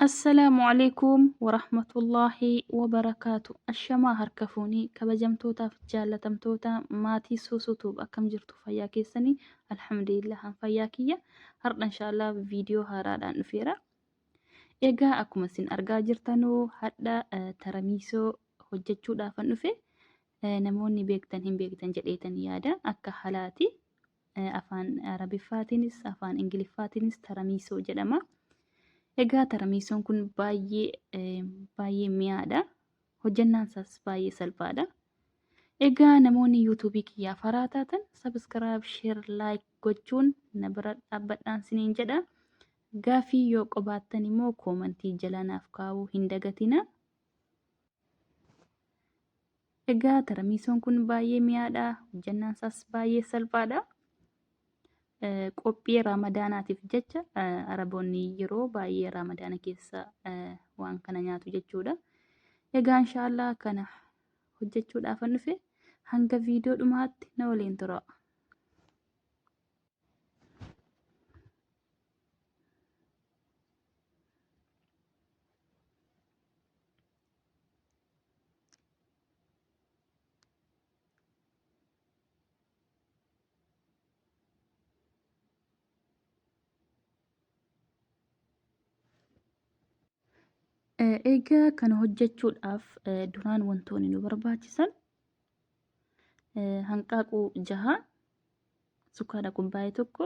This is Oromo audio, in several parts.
Assalaamu alaikum warahmatullaahi wabarakaatu Ashamaa harka fuunii kabajamtootaaf jaallatamtoota maatii suusuutuub akkam jirtu fayyaa keessanii alhamdulillah an fayyaa kiyya hardha inshaallah viidiyoo haaraadhaan dhufeera egaa akkuma isin argaa jirtanuu hadha eh, taramiisoo hojjechuudhaafan dhufe Eh, namoonni beektan hin beektan jedheetan yaada akka halaati afaan Arabiffaatiinis afaan Ingiliffaatiinis taramiisoo jedhama. Egaa taramiisoon kun baay'ee baay'ee mi'aadha. Hojjannaan isaas baay'ee salphaadha. Egaa namoonni yuutuubii kiyyaa faraa taatan sabiskiraayib, sheer, laayik gochuun na bira dhaabbadhaan siniin jedha. Gaafii yoo qabaattan immoo koomantii jala naaf kaa'uu hin dagatina. Egaa taramiisoon kun baay'ee mi'aadha. Hojjannaan isaas baay'ee salphaadha. Qophii raamadaanaatiif jecha araboonni yeroo baay'ee raamadaana keessa waan kana nyaatu jechuudha. Egaa inshaallah kana hojjechuudhaafan dhufe hanga viidiyoo dhumaatti na waliin tura. Eh, Egaa kana hojjechuudhaaf eh, duraan wantoonni nu barbaachisan eh, hanqaaquu jaha, sukkaara kubbaayee tokko,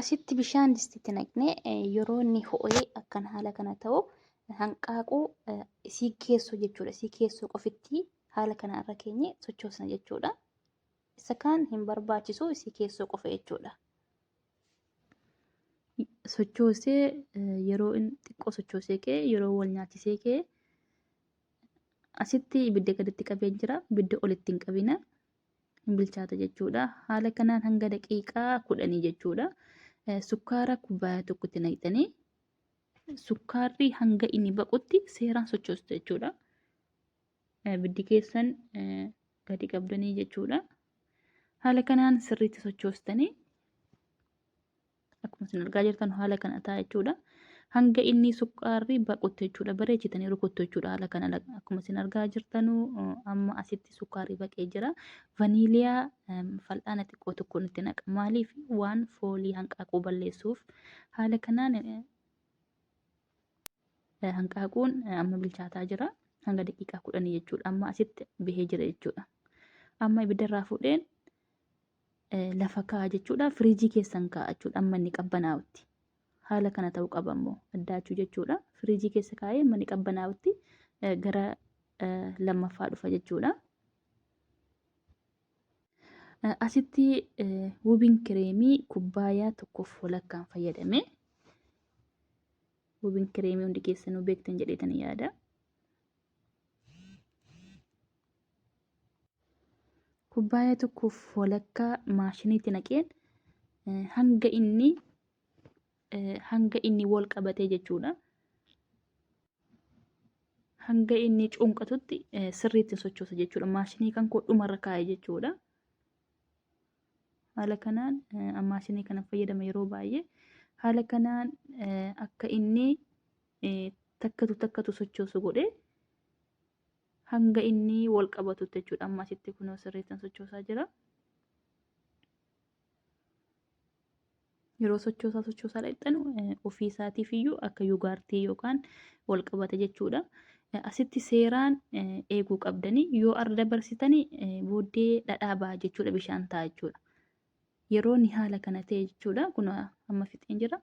Asitti bishaan distitti naqnee yeroo inni ho'ee akkan haala kana ta'u hanqaaquu isii keessoo jechuudha. Isii keessoo qofitti haala kana irra keenye sochoosna jechuudha. Isa kaan hin barbaachisu isii keessoo qofa jechuudha. Sochoosee yeroo inni xiqqoo sochoosee kee yeroo wal nyaachisee kee asitti ibidda gaditti qabee jira. Ibidda olitti hin qabina. hin bilchaata jechuudha. Haala kanaan hanga daqiiqaa kudhanii jechuudha. Eh, Sukkaara kubbaaya tokkotti naqxanii sukkaarri hanga inni baqutti seeraan sochoostu jechuudha. Eh, Biddi keessan eh, gadi qabdanii jechuudha. Haala kanaan sirriitti sochoostanii Akkuma isin argaa jirtan haala kana ta'a jechuudha. Hanga inni sukkaarri baqutti jechuudha bareechitanii rukuttu jechuudha haala kana akkuma isin argaa jirtanu amma asitti sukkaarri baqee jira. Vaniiliyaa fal'aana xiqqoo tokko nutti naqa. Maaliif waan foolii hanqaaquu balleessuuf haala kanaan hanqaaquun amma bilchaataa jira. Hanga daqiiqaa kudhanii jechuudha. Amma asitti bahee jira jechuudha. Amma ibiddarraa fuudheen lafa kaa'a jechuudha. Firiijii keessan kaa'a jechuudha. Amma inni qabbanaa'utti. Haala kana ta'uu qaba immoo addaachuu jechuudha. Firiijii keessa kaa'ee amma inni qabbanaa'utti gara lammaffaa dhufa jechuudha. Asitti wubiin kireemii kubbaayaa tokkoof walakkaan fayyadame. Wubiin kireemii hundi keessanuu beektan jedheetan yaada. Kubbaaya tokkoof walakkaa maashiniitti naqeen hanga inni hanga inni wal qabatee jechuudha. Hanga inni cunqatutti sirriitti sochoosa jechuudha. Maashinii kan koo dhumarra kaa'e jechuudha. Haala kanaan maashinii kana fayyadama yeroo baay'ee. Haala kanaan akka inni takkatu takkatu sochoosu godhee hanga inni wal qabatutti jechuudha. Amma asitti kunoo sirriittan sochoosaa jira. Yeroo sochoosaa sochoosaa dhaqxan ofii isaatiif iyyuu akka yugaartii yookaan wal qabata jechuudha. Asitti seeraan eeguu qabdanii yoo arda dabarsitanii booddee dhadhaa ba'a jechuudha bishaan ta'a jechuudha. Yeroo ni haala kana ta'e jechuudha kun amma fixeen jira.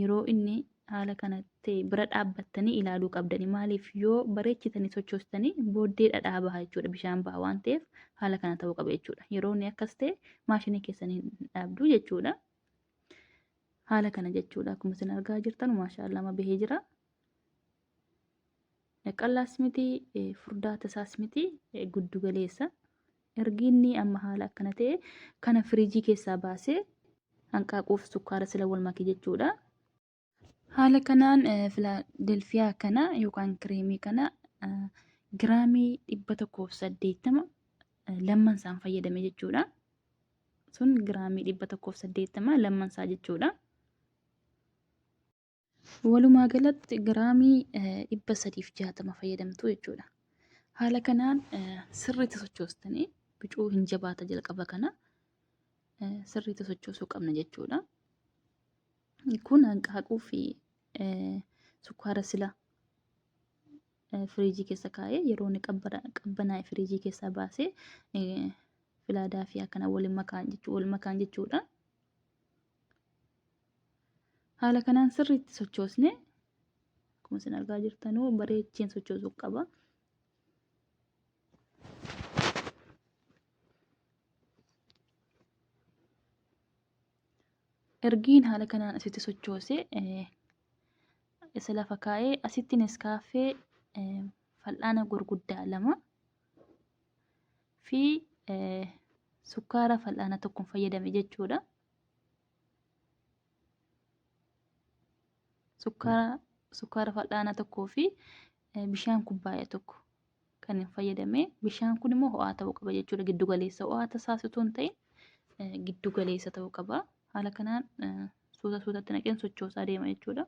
yeroo inni haala kana ta'e bira dhaabbattanii ilaaluu qabdani. Maaliif yoo bareechitanii sochoostanii booddee dhadhaa baha jechuudha. Bishaan baha waan ta'eef haala kana ta'uu qaba jechuudha. Yeroo inni akkas ta'e maashinii keessan hin dhaabdu jechuudha. Haala kana jechuudha. Akkuma isin argaa jirtan maashaallah amma bahee jira. Qallaas miti, furdaa tasaas miti, guddu galeessa. Ergi inni amma haala akkana ta'e kana firiijii keessaa baasee hanqaaquuf sukkaara sila wal make jechuudha. Haala kanaan filaadelfiyaa kana yookaan kireemii kana giraamii dhibba tokkoof saddeettama lamman isaan fayyadame jechuudha. Sun giraamii dhibba tokkoof saddeettama lamman isaa jechuudha. Walumaa galatti giraamii eh, 360 fayyadamtu jechuudha. Haala kanaan eh, sirriitti sochoostanii bicuu hin jabaata jalqaba kana eh, sirriitti sochoosuu qabna jechuudha. Kun hanqaaquu fi eh, sukkaara sila eh, firiijii keessa kaa'ee yeroo inni qabbara- qabbanaa'e firiijii keessaa baasee eh, filaadaa fi akkana wal makaan jechuu wal makaan jechuudha. haala kanaan sirriitti sochoosne akkuma isin argaa jirtanuu bareecheen sochoosuu qaba. ergiin haala kanaan asitti sochoose isa lafa kaa'ee asitti neskaaffee fal'aana gurguddaa lama fi sukkaara fal'aana tokkoon fayyadame jechuudha. Sukkaara fal'aana tokkoo fi bishaan kubbaaya tokko kan hin fayyadame. Bishaan kun immoo ho'aa ta'uu qaba jechuudha. Giddu galeessa ho'aa tasaas utuu hin ta'in giddu galeessa ta'uu qaba. Haala kanaan suuta suutatti naqeen sochoosaa deema jechuudha.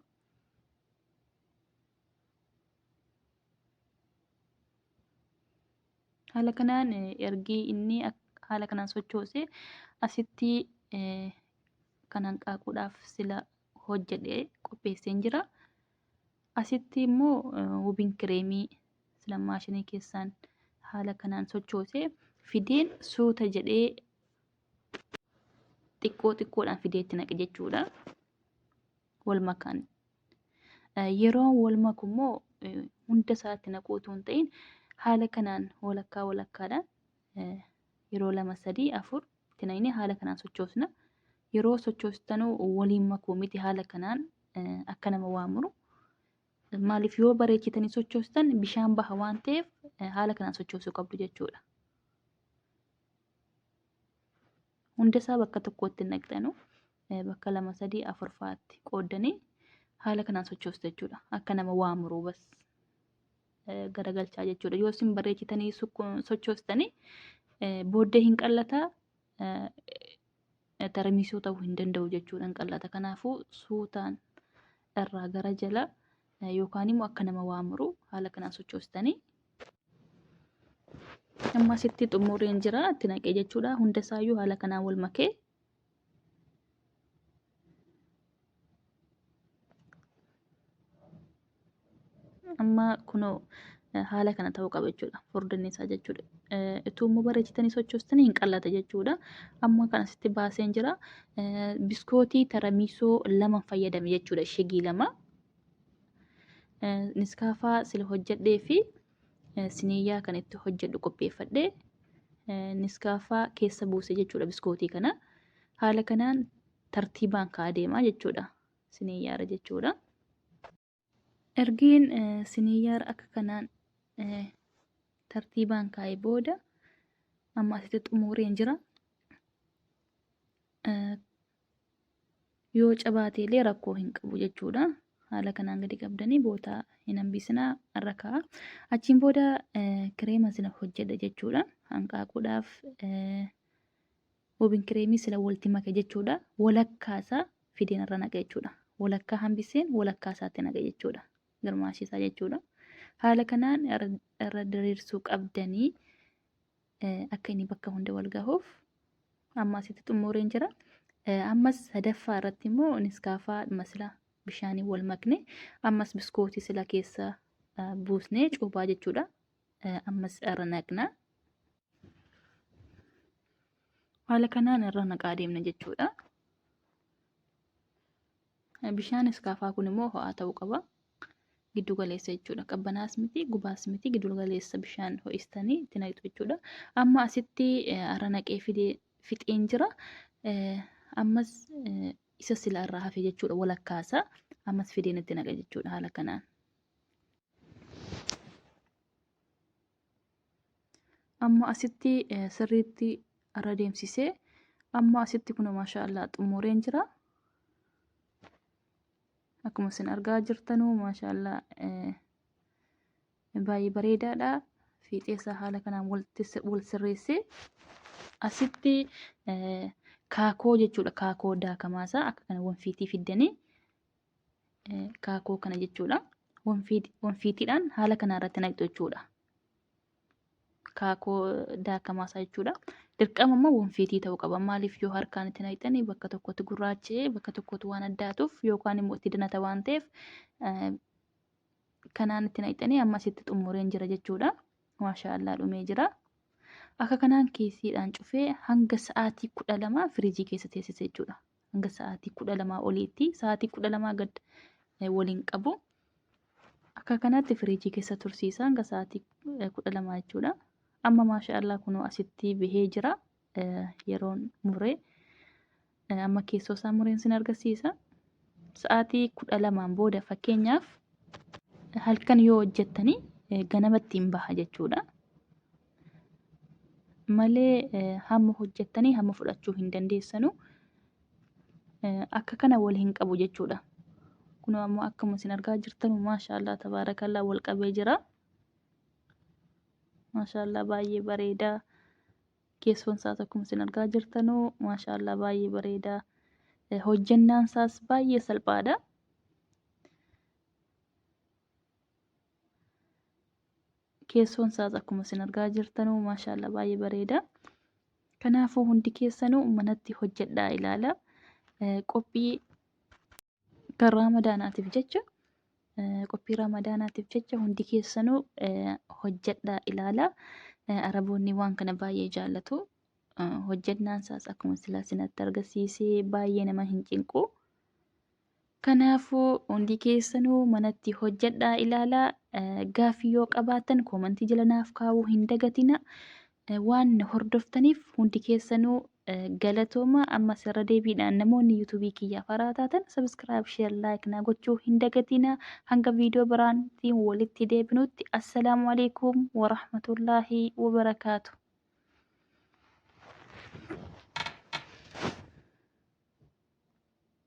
Haala kanaan ergi inni haala kanaan sochoose asitti kan hanqaaquudhaaf sila hojjedhe qopheesseen jira. Asitti immoo wubiin kireemii sila maashinii keessaan haala kanaan sochoose fideen suuta jedhee xiqqoo xiqqoodhaan fidee itti naqe jechuudha. wal makan. Yeroo wal maku immoo hunda isaatti naquu utuu hin ta'in haala kanaan walakkaa walakkaadhaan yeroo lama sadii afur itti naqnee haala kanaan sochoosna. Yeroo sochoostanuu waliin makuu miti haala kanaan akka nama waa muru. Maaliif yoo bareechitanii sochoostan bishaan baha waan ta'eef haala kanaan sochoosuu qabdu jechuudha. Hundasaa bakka tokkootti hin naqxanu. Bakka lama sadii afur fa'aatti qooddanii haala kanaan sochoostu jechuudha. Akka nama waa muruu bas garagalchaa jechuudha. Yoo isin bareechitanii sochoostanii booddee hin qallata tarmiisuu ta'uu hin danda'u jechuudha hin qallata. Kanaafuu suutaan irraa gara jala yookaan immoo akka nama waa muruu haala kanaan sochoostanii amma asitti xumureen jira itti naqee jechuudha hunda isaayyuu haala kanaan wal makee amma kunoo haala kana ta'uu qaba jechuudha furdinni isaa jechuudha ituu immoo bareechitanii sochoostanii hin qallata jechuudha amma kan asitti baaseen jira biskootii taramiisoo lama fayyadame jechuudha shigii lama Niskaafaa sila hojjedhee fi siniiyaa kan itti hojjedhu qopheeffadhe niskaafaa keessa buuse jechuudha biskootii kana. Haala kanaan tartiibaan ka'aa deemaa jechuudha siniiyaara jechuudha. Ergiin siniiyaara akka kanaan tartiibaan kaa'e booda amma asitti xumureen jira. Yoo cabaate illee rakkoo hin qabu jechuudha. Haala kanaan gadi qabdanii boota hin hambisinaa irra kaa'a. Achiin booda kireema sila hojjedha jechuudha. Hanqaaquudhaaf woobin kireemii sila walti make jechuudha. Walakkaa isaa fideen irra naqa jechuudha. Walakkaa hambiseen walakkaa isaatti naqa jechuudha. Girmaashisaa jechuudha. Haala kanaan irra diriirsuu qabdanii akka inni bakka hunda wal gahuuf amma asitti xumureen jira. Ammas sadaffaa irratti immoo niskaafaa masila bishaanii wal makne ammas biskootii sila keessa buusnee cuubaa jechuudha. Ammas irra naqna. Haala kanaan irra naqaa deemna jechuudha. Bishaan iskaafaa kun immoo ho'aa ta'uu qaba. Giddu galeessa jechuudha. Qabbanaas miti, gubaas miti, giddu galeessa bishaan ho'istanii itti naqxu jechuudha. Amma asitti har'a naqee fidee fixeen jira. Ammas isa sila irraa hafe jechuudha walakkaasa. Ammas fideen itti naqa jechuudha haala kanaan. Amma asitti eh, sirriitti irra deemsisee amma asitti kun maashaa Allah xumureen jira. Akkuma isin argaa jirtanu maashaa Allah eh, baay'ee bareedaadha. Fiixee isaa haala kanaan walitti si- wal sirreessee asitti eh, kaakoo jechuudha kaakoo daakamaa isaa akka kana wanfiitii fiddanii kaakuu kana jechuudha. Wanfiitiidhaan haala kana irratti naqxu jechuudha. Kaakuu daakamaa isaa jechuudha. Dirqama immoo wanfiitii ta'uu qaba. Maaliif yoo harkaan itti naqxanii bakka tokkotti gurraachee bakka tokkotti waan addaatuuf yookaan immoo itti danata waan ta'eef kanaan itti naqxanii ammas itti xumureen jira jechuudha. Maashaallah dhumee jira. Akka kanaan kiisiidhaan cufee hanga sa'aatii kudha lama firiijii keessa teessise jechuudha. hanga sa'aatii kudha lamaa oliitti sa'aatii kudha lamaa gad eh, waliin qabu akka kanatti firiijii keessa tursiisa hanga sa'aatii eh, kudha lamaa jechuudha amma maasha allah kunoo asitti bahee jira eh, yeroon muree eh, amma keessoo isaa mureen sin argisiisa sa'aatii kudha lamaan booda fakkeenyaaf halkan yoo hojjettanii eh, ganamatti hin baha jechuudha malee hamma hojjettanii hamma fudhachuu hin dandeessanu akka kana wal hin qabu jechuudha. Kun ammoo akkuma isin argaa jirtan maashaallah tabaarakallah wal qabee jira. Maashaallah baay'ee bareeda. Keessoon isaas akkuma isin argaa jirtanu maashaallah baay'ee bareeda. Hojjennaan isaas baay'ee salphaadha. keessoon isaas akkuma isin argaa jirtanuu maashaallah baay'ee bareeda. Kanaafuu hundi keessanuu manatti hojjedhaa ilaala. Qophii kan raamadaanaatiif jecha qophii raamadaanaatiif jecha hundi keessanuu hojjedhaa ilaala. Araboonni waan kana baay'ee jaallatu. Hojjennaan isaas akkuma silaa sinatti argisiisee baay'ee nama hin cinqu. Kanaafuu hundi keessanuu manatti hojjedhaa ilaalaa gaaffii yoo qabaattan koomantii jala naaf kaa'uu hin dagatina. Waan na hordoftaniif hundi keessanuu galatooma ammas irra deebiidhaan namoonni yuutuubii kiyyaa faraa taatan sabiskiraayib sheer laayik naa gochuu hin dagatina. Hanga viidiyoo biraantiin walitti deebinutti assalaamu alaikum warahmatullaahi wabarakaatu.